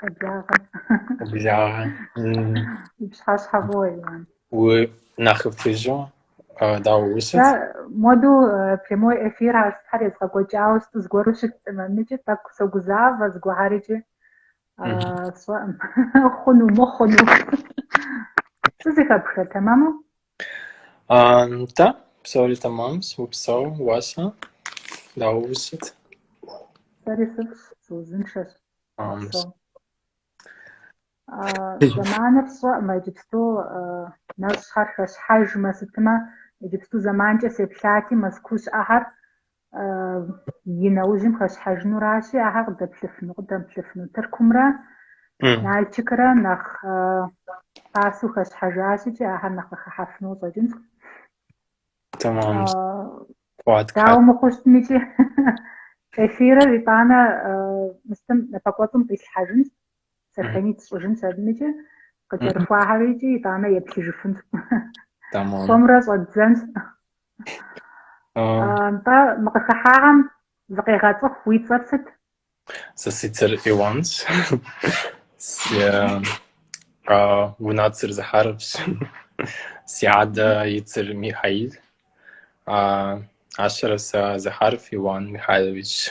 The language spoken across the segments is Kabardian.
Къэблагъэ. Къэблагъэ. Пщыхьэщхьэ фӏыуэ. Уи нэхъыфӏыжу, дауэ усыт? Модэ прямой эфир ар сытхьэр езгъэкӏуэкӏауэ сыту зыгуэру щыттэӏым. Икӏи тӏэкӏу согузавэ зыгуэрхьэрыкӏи сщӏэӏым. Хъуну, мыхъуну. Сызыхэпхэ, тэмэму? Нтӏэ, псори тэмэмщ, упсэу, уэ-щэ, дауэ усыт? Сэри сыфӏщ, сыузыншэщ. Зэманыр сщӏэӏым иджыпсту нэщӏхэр хэщхьэжмэ сытмэ, иджыпсту зэманкӏэ сеплъати, Мэзкуу щыӏэхэр и нэужьым хэщхьэжынуращи, ахэр къыдэплъыфыну, къыдэмыплъыфыну. Тыркумрэ Нальчикрэ нэхъ пасу хэщхьэжащ икӏи ахэр нэхъ къыхыхьэфыну щӏэкӏынщ. Tamam. Дауэ мыхъуу щытми икӏи эфирыр итӏанэ мы сытым напэкӏуэцӏым къислъхьэжынщ. Сохранить сщӏыжынщ, абымкӏэ къыкӏэрыхуахьэр икӏи итӏанэ еплъыжыфынщ. Сомрэ щӏэддзэнщ. Нтӏэ мы къыхыхьахьэм зыкъегъэцӏыху уи цӏэр сыт? Сэ си цӏэр Иванщ. Си унэцӏэр Захаровщ. Си адэ и цӏэр Михаил. Ащэрэ сэ Захаров Иван Михайловичщ.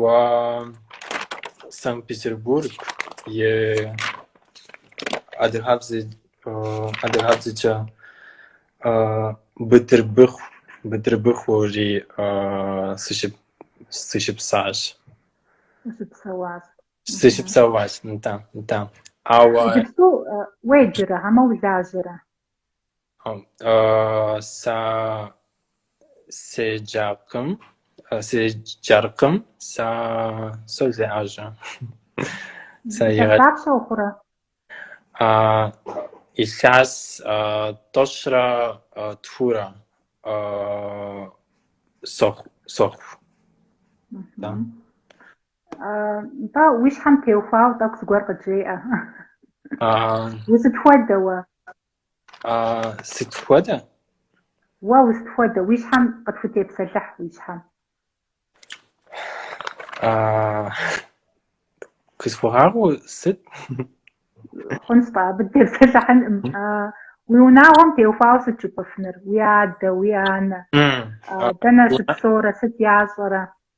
ва Санкт-Петербург е адыгабзэ адыгабзэкӏэ Бытырбыху, Бытырбыхури сыщып сыщыпсащ. Сыщыпсэуащ. Сыщыпсэуащ, нтӏэ, нтӏэ. Иджыпсту уеджэрэ, хьэмэ улажьэрэ? Сэ седжакъым, седжаркъым, сэ солажьэ. Сэ Илъэс егъэ- дапщэ ухъурэ? А, илъэс а, тӏощрэ а, тхурэ а, сохъу, сохъу. Мгм. Да. Нтӏэ, уи щхьэм теухуауэ тӏэкӏу зыгуэр къыджеӏэ. Усыт хуэдэ уэ? Сыт хуэдэ? Уэ усыт хуэдэ, уи щхьэм къытхутепсэлъыхь уи щхьэм. Къысхуэгъэгъу, сыт? Хъунщ тӏэ, абы дытепсэлъыхьынӏым. Уи унагъуэм теухуауэ сыт жыпӏэфыныр? Уи адэ, уи анэ? Дэнэ щыпсэурэ, сыт ящӏэрэ?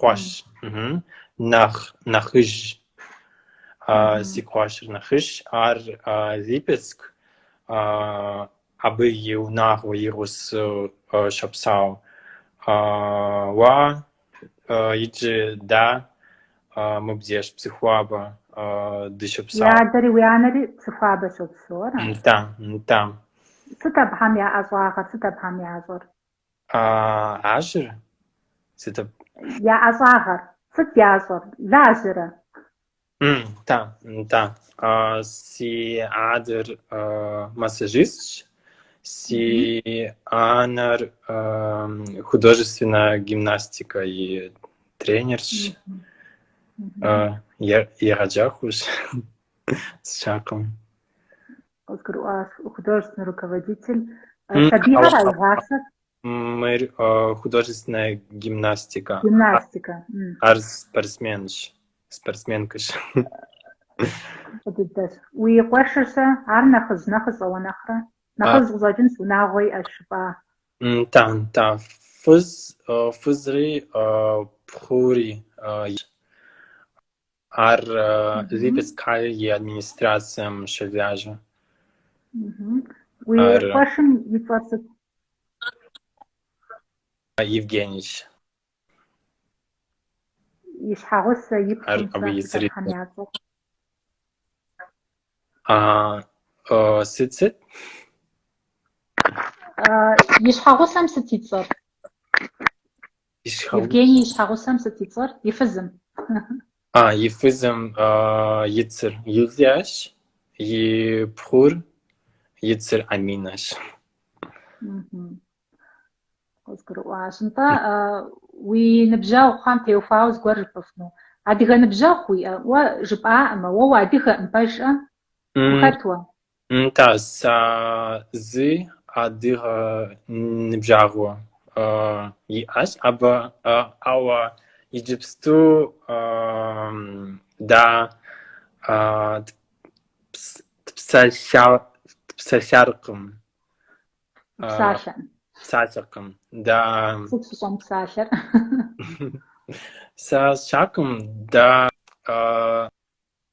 къуэш. Нэхъ нэхъыжь. Си къуэшыр нэхъыжь. Ар Липецк. Абы и унагъуэ игъусэу щопсэу. Уа, иджы дэ мыбдеж Псыхуабэ дыщопсэу. Уи адэри уи анэри Псыхуабэ щопсэу, ара? Нтӏэ, нтӏэ. Сыт абыхэм я ӏэщӏагъэр, сыт абыхэм ящӏэр? Лажьэр сыт? Я ӏэщӏагъэр сыт ящӏэр? Лажьэрэ? Нтӏэ, нтӏэ. Си адэр массажистщ, си анэр художественнэ гимнастикэ и тренерщ, егъэджакӏуэщ, сщӏэркъым. Къызгурыӏуащ художественный руководитель. Сабийхэр игъасэрэ? Мыр художественная гимнастика. Гимнастика. Ар спортсменщ. Спортсменкэщ. Дыдэщ. Уи къуэшыр-щэ, ар нэхъыжь нэхъыщӏэ уэ нэхърэ? Нэхъыжь къыщӏэкӏынщ, унагъуэ иӏэщ жыпӏа? Нтӏэ, нтӏэ. Фыз, фызри, пхъури. Ар Липецк и администрацэм щолажьэ. Уи къуэшым и цӏэр сыт? Евгенийщ. И щхьэгъусэм и цӏэр? Сыт-сыт? И щхьэгъусэм сыт и цӏэр? Евгений и щхьэгъусэм сыт и цӏэр? И фызым. А, и фызым и цӏэр Юлиящ, и пхъум и цӏэр Аминэщ. Къызгурыӏуащ. Нтӏэ, уи ныбжьэгъухэм теухуауэ зыгуэр жыпӏыфну. Адыгэ ныбжьэгъу уиӏэ? Уэ жыпӏа уэ, уэ уадыгэкъым, пэжкӏэ? Ухэт уэ? Нтӏэ, сэ зы адыгэ ныбжьэгъу иӏэщ, абы, ауэ иджыпсту дэ дыпсалъэркъым. Псалъэм. Псалъэркъым, да. Сыт фыщӏэмыпсалъэр? Сэ сщӏэркъым, да.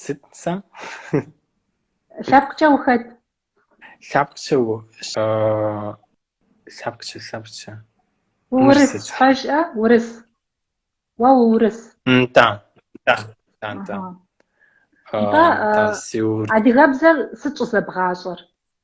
Сыт сэ? Лъэпкъкӏэ ухэт? Лъэпкъкӏэ у лъэпкъкӏэ лъэпкъкӏэ. Уурыс пэжкӏэ урыс. Уэ уурыс. Да. Да. Да. Да. Адыгэбзэр сыт щӏызэбгъащӏэр?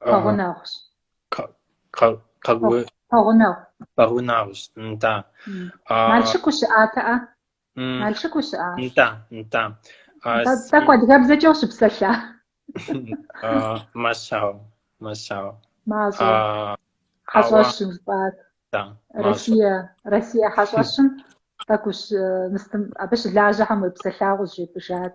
Пэгъунэгъущ. Пэгъунэгъу. Пэгъунэгъущ, нтӏа. Налшык ущыӏатэӏэ? Налшык ущыӏат. Нтӏа, нтӏа. Тӏэкӏу адыгэбзэкӏэ ущыпсэлъа? Мащӏэу, мащӏэу. Мащӏэ. Хьэщӏэщым жыпӏат. Да. Россия, Россия хьэщӏэщым тӏэкӏущ мыстым абы щылажьэхэм уепсэлъауэ къызжепӏэжат.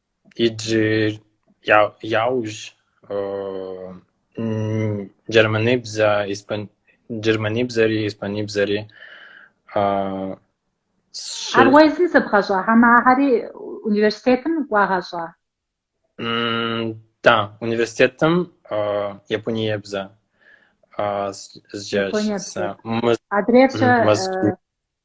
Иджы я- яужь джэрмэныбзэ- испан- джэрмэныбзэри испаныбзэри щы- Ар уэ езым зэбгъэщӏа хьэмэрэ университетым уагъэщӏа? Да, университетым япониебзэ зджащ Япониебзэ. сэ. Мы- Адрейр-щэ Мэз-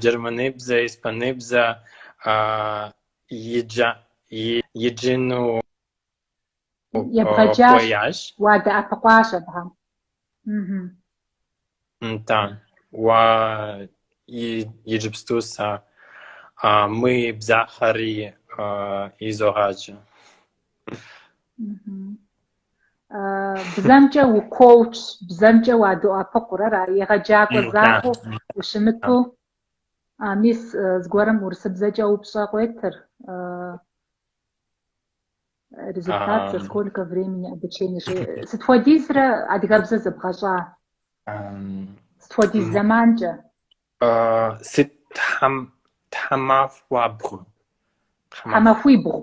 джэрмэныбзэ, испаныбзэ иджыну хуеящ. Уадэӏэпыкъуащ абыхэм. Да. Уа иджыпсту сэ мы бзэхэри изогъаджэ. бзэмкӏэ укоучщ, бзэмкӏэ уадоӏэпыкъур, ара, егъэджакӏуэ закъуэу ущымыту, мис зыгуэрым урысыбзэкӏэ упщӏэ къуетыр, результат за сколько времени обучения, сыт хуэдизрэ адыгэбзэр зэбгъэщӏа? Сыт хуэдиз зэманкӏэ? Сыт тхьэмахуабгъу? Тхьэмахуибгъу.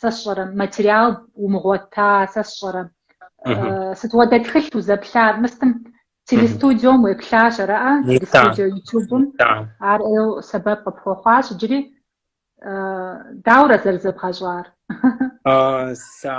Сэ сщӏэрэ, материал умыгъуэта, сэ сщӏэрэ. Сыт хуэдэ тхылъ узэплъар? Мыстым телестудиом уеплъащ, араӏэ? Телестудио ютубым. Ар ӏейу сэбэп къыпхуэхъуащ, иджыри дауэрэ зэрызэбгъэщӏар?